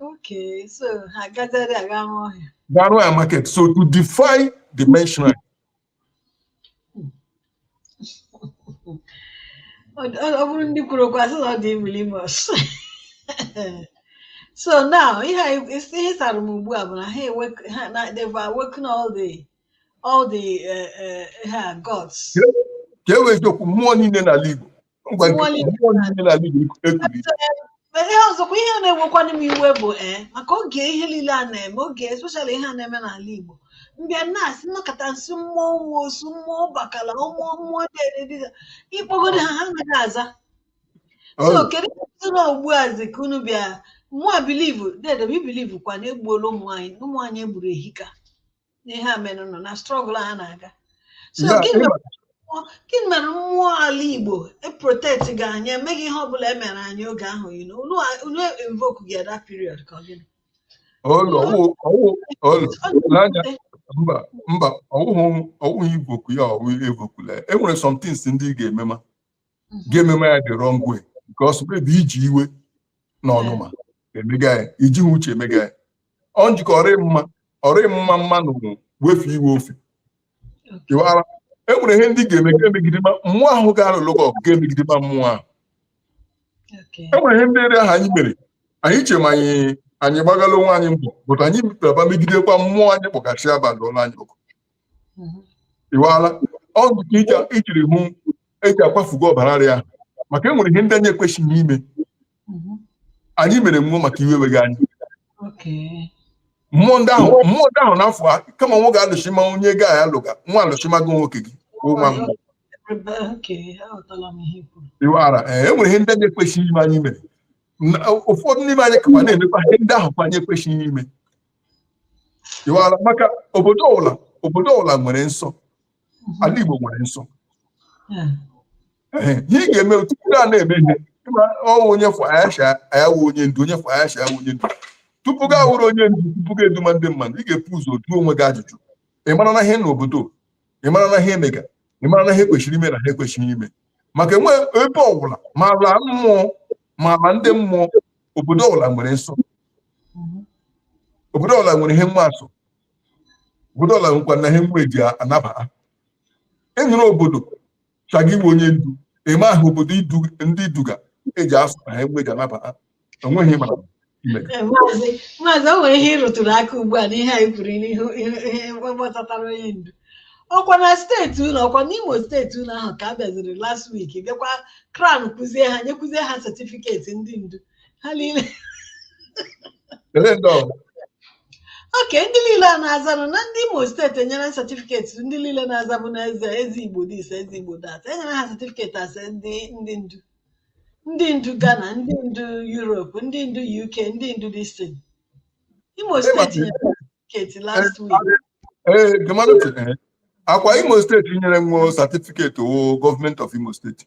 B: Okay,
A: so ha gazere aga rụọ ya. Ga rụọ ya
B: market so to defy the main shrine. ọ bụrụ
A: ndị kwuru okwu a sị na ọ dị imilimus so now ihe ihe sara m ugbu a bụ na ha na they've awoken all the all the uh, uh, gods. ka e wee eziokwu mmụọ niile n'ala Igbo Ngwa nke Nwale. mmụọ niile na ndị Igbo ekuli. Ma ihe ọzọkwa ihe na-ewekwanụ m iwe bụ ee maka oge ihe niile a na-eme oge especially ihe a na-eme n'ala Igbo m bịa na-asị nnọkọta nsị mmụọ nwa osu mmụọ bakala mmụọ mmụọ dedede ịkpọgodo ha ha anaghị aza so Ọrụ. kedu ihe na ugbu a zi ka unu bịa mụa believe dede m i believe kwa na e gbuola ụmụ anyị ụmụ anyị e gburu ehika n'ihe a menụ nọ na struggle a na-aga so Ya, gịnị ịma- mere mmụọ- gịnị mere mmụọ ala igbo eprotectghị anyị emeghị ihe ọbụla e mere anyị oge ahụ you know, unu a- unu invokeghị at that period ka ọ gịnị ọlụ ọwụ ọwụ ọlụ Ọ dị
B: n'anya mfe. mba mba ọwụhụ ọwụhụ invoke ya ọwụ e invokela ya. e nwere some things ndị ị ga-emema ga-emema ya the wrong way because maybe iji iwe na ọnụma emega ya iji ha uche emega ya ọ njikọ ọ rị mma ọ rị mma mmanụ wefu iwe ofe ịwara e nwere ihe ndị ga-eme gị emegidema mmụọ ahụ ga-alụlụ gị ọgụ gị emegidema mmụọ ahụ e nwere ihe ndị ere ahụ anyị mere anyị chema anyị anyị gbagala onwe anyị mbọ but anyị mepere aba megidekwa mmụọ anyị kpọgasị abalị ụlọ anyị ọkụ ịwala ọ nke iji- ijiri hụ eji akwafuga ọbara rịa maka e nwere ihe ndị anyị ekwesịghị ime anyị mere mmụọ maka iwe weghị anyị Okay. mmụọ ndị ahụ mmụọ ndị ahụ n'afọ a kama nwa ga-alụchi ma onye ga ya lụga nwa alụchimago nwoke gị bụ nwa mmụọ Ebe okay, aghọtala m ihe i kwuru. ịwara ee e nwere ihe ndị anyị ekwesịghị ime anyị mere Na- ụfọdụ n'ime anyị kakwa na-emekwa ihe ndị ahụ kwa anyị ekwesịghị ime ịwara maka obodo ọbụla obodo ọbụla nwere nsọ ala Igbo nwere nsọ ihe ị ga-eme tupu a na-eme ihe ọwụ onye fụa ya sị a ya wụ onye ndu onye fụa ya sị a ya wụ onye ndu tupu gị awụrụ onye ndu tupu gị eduma ndị mmadụ ị ga-ebu ụzọ jụọ onwe gị ajụjụ ị mara na ihe n'obodo ị mara na ihe emega ị mara na ihe kwesịrị ime na ihe ekwesịghị ime maka enwe ebe ọbụla ma ala mmụọ ma ala ndị mmụọ obodo ọbụla nwere nsọ mhm. obodo ọwụla nwere ihe nwa asọ obodo ọwụla nwekwana ihe nwa eji anaba ha enyere obodo chaga iwe onye ndu eme ahụ obodo ndị i duga eji asọ na ihe nwa eji anaba o nweghị mara eh, maazị
A: maazị o nwere ihe ịrụtụrụ aka ugbu a n'ihe anyị kwuru n'ihu ihe gbasatara onye ndu ọkwa na steeti unu ọkwa n'imo steeti unu ahụ ka a bịaziri last week bịakwa crown kwuzie ha nyekwuzie ha setifiketi ndị ndu ha niile Ele ndị ọ bụ? oke ndị niile a na-azanụ na ndị imo steeti enyere setifiketi ndị niile na-azabụ n'eze eze igbo this eze igbo that enyere ha setifiketi asị ndị ndị ndu ndị ndu ghana ndị ndu europe ndị ndu uk ndị ndu distin imo Imo steeti na- nyere ha setifiketi last week Ee, Gemalụ sị, ee. akwa
B: imo steeti nyere nwo satifiketi ọwụ gọọmenti of imo steeti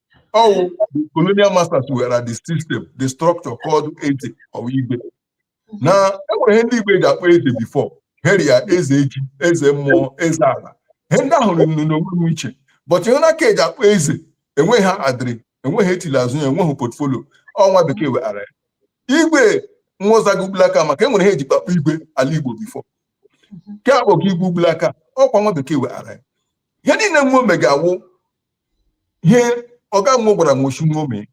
B: ọwụ colonial masters weghara the system the structure called eze or igwe na enwere ndị igbo eji akpọ eze before heri ya eze ji eze mmụọ eze ala ihe ndị ahụ nụ n'onwe rị iche but ihe na a ka eji akpọ eze enweghị ha adịrị enweghị etili azụ ya enweghị portfolio ọ nwa bekee weghara ya igwe nwụzago ugbulaka maka enwere ihe eji akpọ igwe ala igbo before nke akpọga igwe ugbulaka ọkwa nwa bekee weghara ya ihe niile nwo mega awụ ihe ọga mụ gwara m oshi n'ome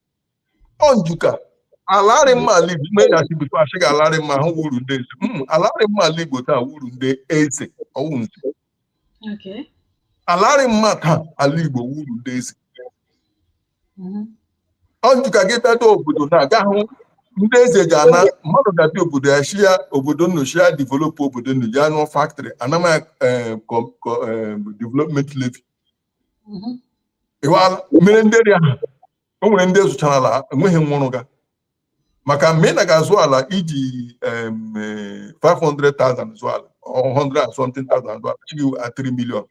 B: ọ njuka alarị mma ala igbo ime ya chibikwa asị gị alarị mma ahụ wụrụ ndị eze Mm, alarị mma ala igbo taa wụrụ ndị eze ọwụ nze Okay. alarị mma taa ala igbo wụrụ ndị eze Mhm. ọ njuka gị bịado obodo na-aga hụ ndị eze ji ana mmadụ ga-abịa obodo ya shi ya obodo nnochi ya developụ obodo nnochi ya rụọ factory anama gị development levy mhm. ị hụala mere ndị eri ahụ o nwere ndị zụchara ala enweghị nwụrụ ga maka mgbe ị na ga-azụ ala iji 500,000 eh, zụọ ala 100 and something thousand zụọ ala shị gị 3 million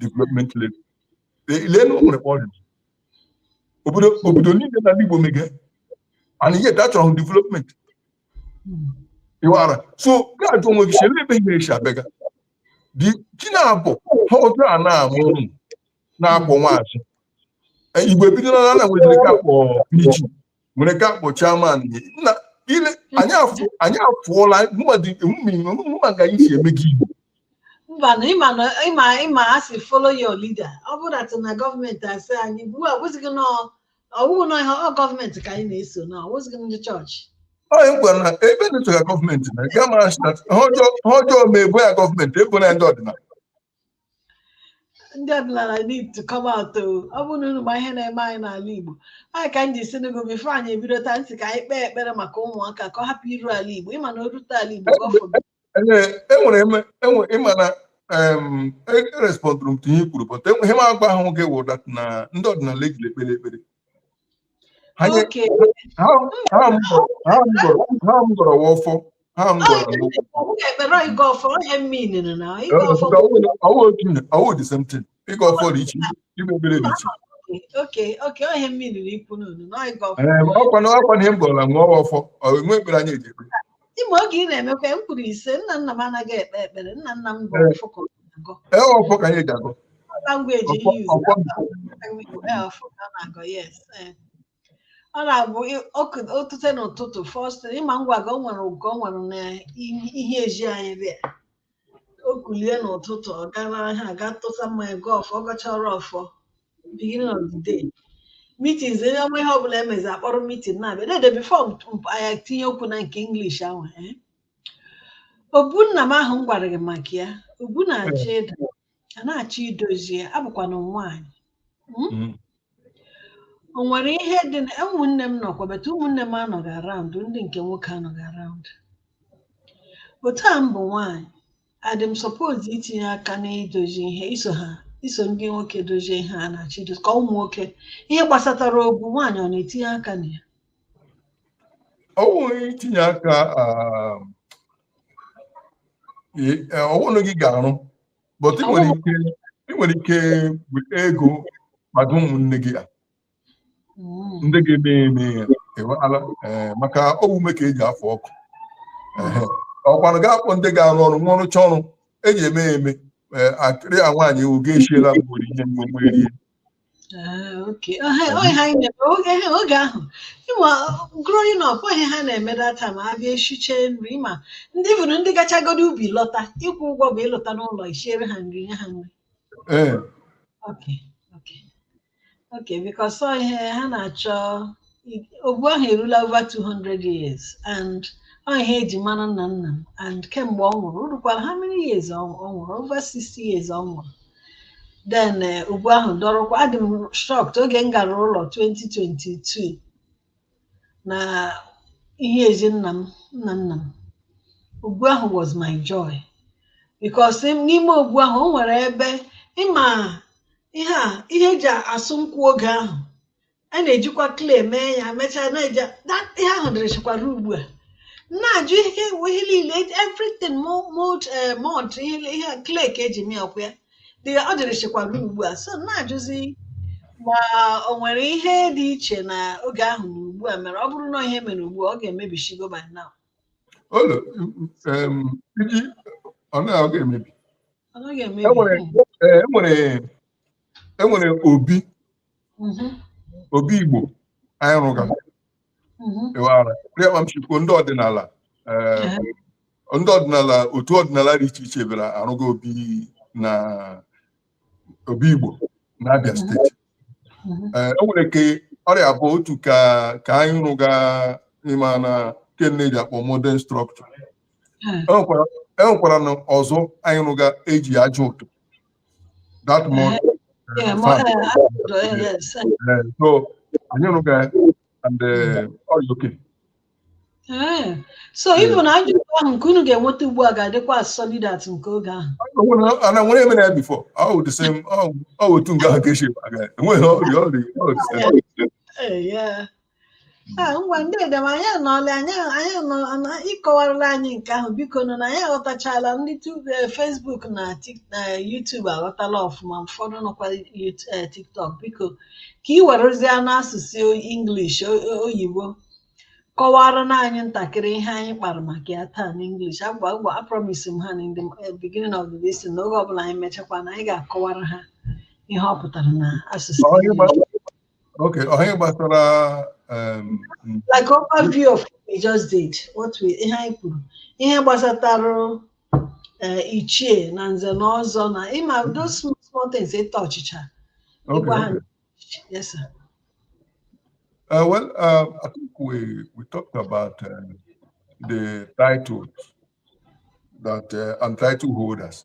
B: development levy lee na o nwere kpọrọ obodo niile n'ala Igbo mege and yet achọrọ development ịwara so ga-ajụ onwe gị chere ebe ihe esi abịaga dị chi na-abụ ha otu a na-amụ ụmụ na-akpọ nwaazị E, igbo ebidola na nwere nke a kpọ PG nwere nke a kpọ chairman na ile anyị afụ anyị afụọla mmadụ mma ga isi eme gị igbo mba na ịma na ịma ịma a sị follow your leader ọ bụrụ that
A: na gọọmenti asị anyị ugbu a bụzighị na ọ bụ na ihe ọ gọọmenti ka anyị na-eso na ọ wụzighị ndị chọọchị onye m kwere
B: na ebe na ịchọga gọọmenti na ga mara sị na ha ọjọọ ha ọjọọ ma ebo ya gọọmenti ebona ya ndị ọdịnala
A: ndị ọdịnala need to come out o ọ bụrụ na unu ma ihe na-eme anyị n'ala Igbo anyị ka m ji si n'ego before anyị ebido taa ntị ka anyị kpee ekpere maka ụmụaka ka ọ hapụ iru ala Igbo ịma na o rute ala Igbo gọfụ
B: enwere ịma na erespọndụrụ m ihe i kwuru but ihe m agwa ahụ gị wụ that na ndị ọdịnala ejiri ekpere ekpere ha m gọrọ wa ọfọ ha m gọrọ ọwụ the same thing ịgọ ọfọ dị iche ime ekpere dị iche ọkwa na ihe m gọrọla nwa ọfọ enwe ekpere anyị eji ekpere ime oge ị
A: na-emekwa m kwuru ise nna nna m anaghị ekpe ekpere nna nna m bụ ọfọ ka ọ agọ ee ọfọ
B: ka anyị ji agọ language Ọfọ- use ọfọ
A: na-agọ yes eh. ọ na-abụ ị- ọkụ- o tute n'ụtụtụ first thing, ịma ngwa gị o nwere ụgọ o nwere na ihe eji anyị dị ya. o kulie n'ụtụtụ ọ gara ahịa ga tụsa mmanya gọọ ọfọ ọ gọchara ọfọ beginning of the day meetings onye ọma ihe ọbụla emezi akpọrọ meeting na-abịa dede before anyị tinye okwu na nke English ahụ eh? obu nna m ahụ m gwara gị maka ya obu na-achọ ịda a na-achọ idozi ya abụkwana nwaanyị Mm? Mm. o nwere ihe dị na ụmụnne m nọkwa bata ụmụnne m anọghị around ndị nke nwoke anọghị around otu a m bụ nwaanyị adị m suppose itinye aka n'idozi ihe iso ha iso ndị nwoke dozie ihe a na-achọ idozi ka ụmụ nwoke ihe gbasatara obu nwaanyị ọ na-etinye aka na ya ọ bụghị
B: itinye aka um, ọwụnụ gị ga-arụ but ị nwere ike ị nwere ike weta ego maka ụmụnne gị ya Mm. ndị ga-eme ya eme ya ịghọtala? Ee, maka ọ wụ ume ka eji afụ ọkụ Ehe. ọkwanụ ga-akpọ ndị ga-arụ ọrụ nwa ọrụcha ọrụ eji eme ya eme Ee, akịrị a nwaanyị ewu ga-esiela mgbe ihe mgbe mgbe rie Ah, okay. Ọ ihe- ọ ihe
A: na-eme. Okay, oge ahụ ịma growing up ọ ihe ha na-eme that time abịa eshiche nri ma ndị bụrụ ndị gachagodo ubi lọta ịkwụ ụgwọ bụ ịlọta n'ụlọ isiere ha nri nye ha nri ee okay okay okay because ọ ihe ha na-achọ i- obu ahụ erula over 200 years and ọ ihe eji mara nna nna m and kemgbe ọ nwụrụ o rukwara how many years ọ ọ nwụrụ over 60 years ọ nwụrụ then eh, obu ahụ dọrọkwa adị m shocked oge m gara ụlọ 2022 na ihe ezi nna m nna nna m obu ahụ was my joy because im- n'ime obu ahụ o nwere ebe ịma ihe a ihe eji asụ nkwụ oge ahụ a na-ejikwa clay mee ya mechaa na-eji that ihe ahụ dịrịchikwa ruo ugbu a na-ajụ ihe ihe niile everything mu- mud eh, mud ihe ihe clay ka eji mee ọkwa ya dị ọ dịrịchikwa ruo ugbu a so na-ajụzi ma o nwere ihe dị iche na oge ahụ na ugbu a mere ọ bụrụ na ihe mere ugbu a ọ ga-emebishigo by now Olo, em,
B: iji ọ na ọ ga-emebi ọ naghị E nwere emebi e nwere enwere obi mhm. obi Igbo anyị rụga ịwara rị akpa m shi kwuo ndị ọdịnala eh, ndị ọdịnala otu ọdịnala dị iche iche bịara arụga obi na obi Igbo na Abia steeti Eh, o nwere ke ọ rị abụọ otu ka ka anyị rụga ịma na ke a na-eji akpọ modern structure enwekwaranụ ọzọ anyị rụga eji aja ụtụ that eh, mud. Yeah, uh, uh, uh, yes. Uh, so, anyị rụga ya and uh, ọ rị okay. Eh,
A: so even na aja ahụ nke unu ga-enweta ugbu a ga-adịkwa as solid as nke oge ahụ ana nwere eme
B: na before ọ the same ọ wụ otu nga ahụ ka eshi aga ewere ọrịa ọrịa
A: Ah, ngwanụ dede m anyị anọọla anyị anyị anọ- anọ- ịkọwarala anyị nke ahụ bikonụ na anyị aghọtachala ndị tu- eh, Facebook na Tik- na YouTube aghọtala ọfụma ụfọdụ nọkwa Yut- eh, TikTok biko ka ị werezie n'asụsụ English o- o- oyibo kọwaranụ anyị ntakịrị ihe anyị kpara maka ya taa n'English agwa agwa apromise m ha na in the eh, beginning of the lesson na oge ọbụla anyị mechakwa na anyị ga-akọwara ha ihe ọ pụtara na asụsụ Ọ, English. ịgba-
B: Okay, ọ ihe gbasara um,
A: mm, like overview of what we just did what we ihe anyị kwuru ihe gbasatara eh, ichie na nze na ọzọ na ịma those small small things ịta ọchịcha okay, ịgwa ha okay.
B: yes sir Uh, well, uh, I think we, we talked about uh, the titles that uh, and title holders.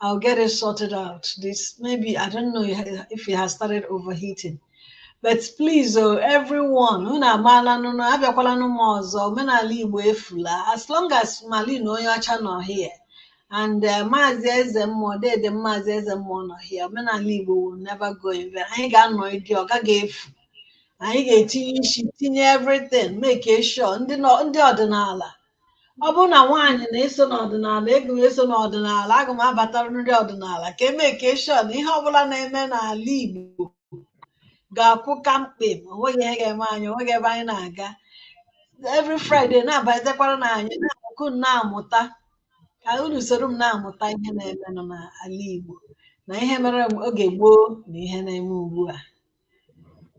A: I'll get it sorted out. This maybe I don't know if it has started overheating. But please, oh, everyone, unu amaala na unu abịakwala n'ụmụ ọzọ omenala Igbo efula as long as Mali na onye ọcha nọ here and uh, Maazị Eze Mmụọ dede Maazị Eze Mmụọ nọ here omenala Igbo will never go in vain. Anyị ga-anọgide ọ gaghị efu. Anyị ga-etinye isi tinye everything make sure ndị nọ- ndị ọdịnala ọ bụrụ na nwaanyị na-eso n'ọdịnala aga m eso n'ọdịnala aga m abatara ndị ọdịnala ka e make sure na ihe ọbụla na-eme n'ala Igbo ga-akwụ kamkpem onweghị ihe ga-eme anyị onweghị ebe anyị na-aga every Friday na-abatekwaranụ anyị ka m na-amụta ka unu soro m na-amụta ihe na-emenụ n'ala Igbo na ihe mere oge gboo na ihe na-eme ugbu a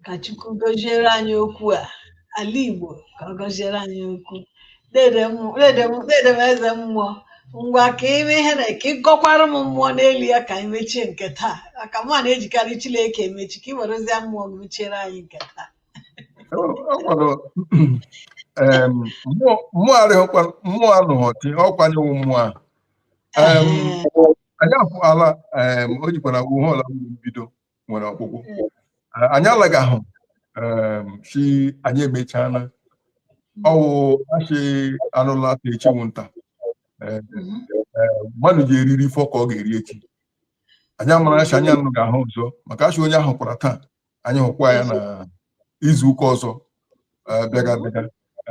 A: ka Chukwu gọziere anyị okwu a ala Igbo ka ọ gọziere anyị okwu dede mmụọ- dede m- dede m eze mmụọ ngwa ka ime ihe na ka ị gọkwara m mmụọ n'elu ya ka anyị mechie nke taa maka mụa na-ejikarị Chineke emechi ka ị werezie mmụọ gị mechiere anyị nke taa O o
B: nwere em, mmụọ mmụọ arịghịkwa mmụọ anụghị ọtị ọ kwa anyị wụ mmụọ ahụ Em, Ehe. anyị apụọla em, ọ sịkwa na ihe ọbụla nwere mbido nwere ọgwụgwụ Eh, anyị alagahụ em, si anyị emechaala ọ wụ a sị anụ laa taa echi wụ nta Eh, Mhm. mmadụ ji eri erifọ ka ọ ga-eri echi anyị amara sị anyị na unu ga-ahụ ọzọ maka a sị onye a hụkwara taa anyị hụkwa ya na izu ụka ọzọ eh, bịaga bịaga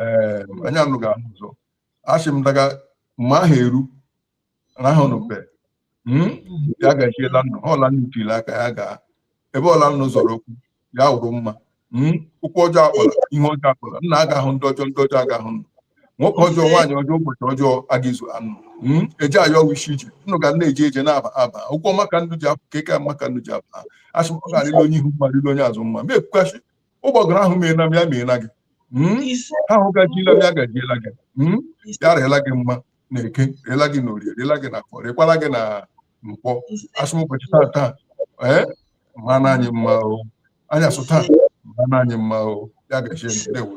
B: Eh, anyị na unu ga-ahụ ọzọ asị m daga mgbe ahụ eru rahụnụ be hmm? ya gajiela nnu ọla nnu tiri aka ya gaa ebe ọla nnu zọrọ ụkwụ ya wụrụ mma hmm? ụkwụ ọjọọ akpọla ihe ọjọọ akpọla nnu aga ahụ ndị ọjọọ ndị ọjọọ aga ahụ nnu nwoke ọjọọ nwaanyị ọjọọ ụbọchị ọjọọ aga izu nnu hmm? eji ayọ wishi ije nnu ga na-eje eje na-aba aba ụkwụ ọma ka nnu ji apụ ka eke ọma ka nnu ji aba asị ọ ga-arịla onye ihu mma rịla onye azụ mma ma ekwukachi ụgbọgụrụ ahụ meela m ya meela gị ahụ gajiela m ya gajiela gị ya rịela gị mma na eke rịela gị na orie rịela gị na afọ rịkwala gị na nkwọ asị m ụbọchị taa taa ee mma na anyị mma o anyị asụ taa mma na anyị mma o ya gazie ndewo